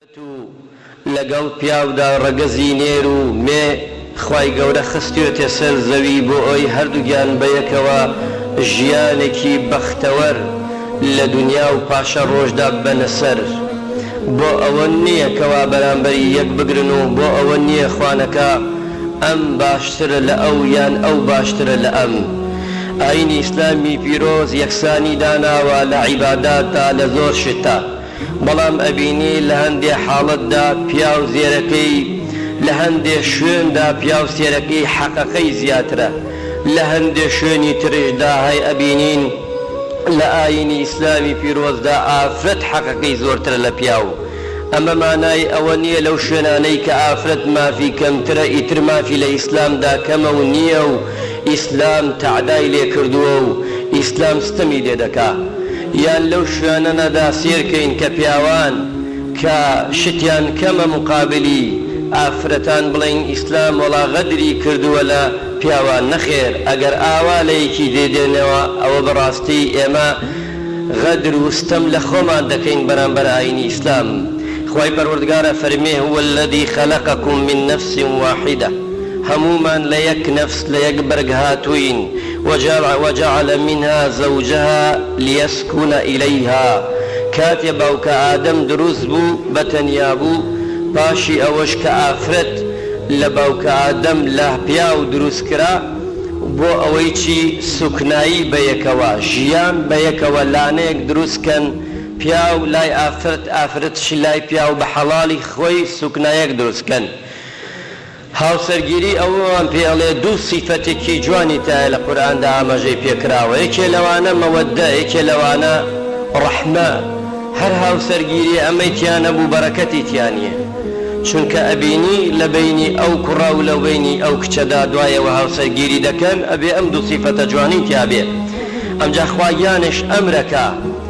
تو لەگەڵ پیاودا ڕەگەزی نێر و مێ خوای گەورە خستیۆتە سەر زەوی بۆ ئەوەی هەردووکیان بەیەکەوە ژیانێکی بەختەوەر لە دونیا و پاشە ڕۆژدا ببەنە سەر بۆ ئەوە نیە کەوا بەرامبەری یەک بگرن و بۆ ئەوە نیە خوانەکا ئەم باشترە لە ئەو یان ئەو باشترە لە ئەم ئاینی ئیسلامی پیرۆز یەکسانی داناوە لە عیبادات دا لە زۆر شتدا. بەڵام ئەبینی لە هەندێ حاڵەتدا پیاو زێرەکەی لە هەندێ شوێندا پیاو سێرەکەی حەقەکەی زیاترە لە هەندێ شوێنی ترشدا هەی ئەبینین لە ئاینی ئیسلامی پیرۆزدا ئافرەت حەقەکەی زۆرترە لە پیاو ئەمە مانای ئەوە نیە لەو شوێنانەی کە ئافرەت مافی کەمترە ئیتر مافی لە ئیسلامدا کەمە و نیە و ئیسلام تەعدای لێ کردووە و ئیسلام ستەمی لێ دەکا یان لەو شوێنەنە دا سێر کەین کە پیاوان کە شتیان کەمە موقابلی ئافرەتان بڵێین ئیسلام وەڵا غەدری کردووە لە پیاوان نەخێر ئەگەر ئاوا لە یەکی دێ دێنەوە ئەوە بە ڕاستی ئێمە غەدر و ستەم لە خۆمان دەکەین بەرامبەر ئاینی ئیسلام خوای پەروەردگارە فەرمێ هو الذی خلقکم من نفس واحدە هەموومان لە یەک نەفس لە یەک بەرگ هاتووین، وجعل منها زوجها لیسکن الیها، کاتێ باوکە ئادەم دروست بوو بە تەنیا بوو، پاشی ئەوەش کە ئافرەت لە باوکە ئادەم لە پیاو دروست کرا بۆ ئەوەی چی سوکنایی بە یەکەوە ژیان بە یەکەوە لانەیەک دروست کەن پیاو لای ئافرەت ئافرەتش لای پیاو بە حەڵالی خۆی سوکنایەک دروست کەن. هاوسەرگیری ئەوەمان پێ ئەڵێ دوو سیفەتێکی جوانی تایە لە قورئاندا ئاماژەی پێ کراوە یەکێ لەوانە مەوەددە یەکێ لەوانە ڕەحمە هەر هاوسەرگیریە ئەمەی تیا نەبوو بەرەکەتی تیا نیە چونکە ئەبینی لە بەینی ئەو کوڕە و لە بەینی ئەو کچەدا دوایەوە هاوسەرگیری دەکەن ئەبێ ئەم دوو سیفەتە جوانی تیا بێ ئەمجا خواگیانش ئەمرەکا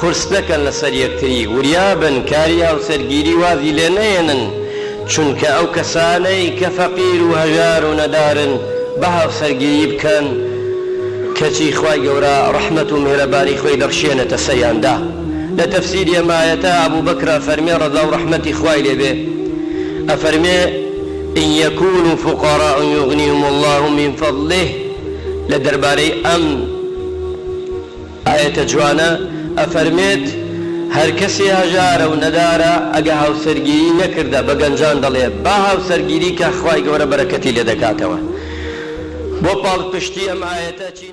قورس نەکەن لەسەر یەکتری وریابن کاری هاوسەرگیری وازی لێ نەهێنن چونکە ئەو کەسانەی کە فەقیر و هەژار و نەدارن با هاوسەرگیری بکەن کەچی خوای گەورە ڕەحمەت و میهرەبانی خۆی دەخشێنێتە سەریاندا لە تەفسیری ئەم ئایەتە ئەبوبەکر ئەفەرمێ ڕەزا و ڕەحمەتی خوای لێ بێ ئەفەرمێ ان یکونوا فقراء یغنیهم اللە من فضله لە دەربارەی ئەم ئایەتە جوانە ئەفەرمێت هەرکەسێ هەژارە و نەدارە ئەگە هاوسەرگیری نەکردە بە گەنجان دەڵێ با هاوسەرگیری کا خوای گەورە بەرەکەتی لێدەکاتەوە بۆ پاڵپشتی ئەم ئایەتە چی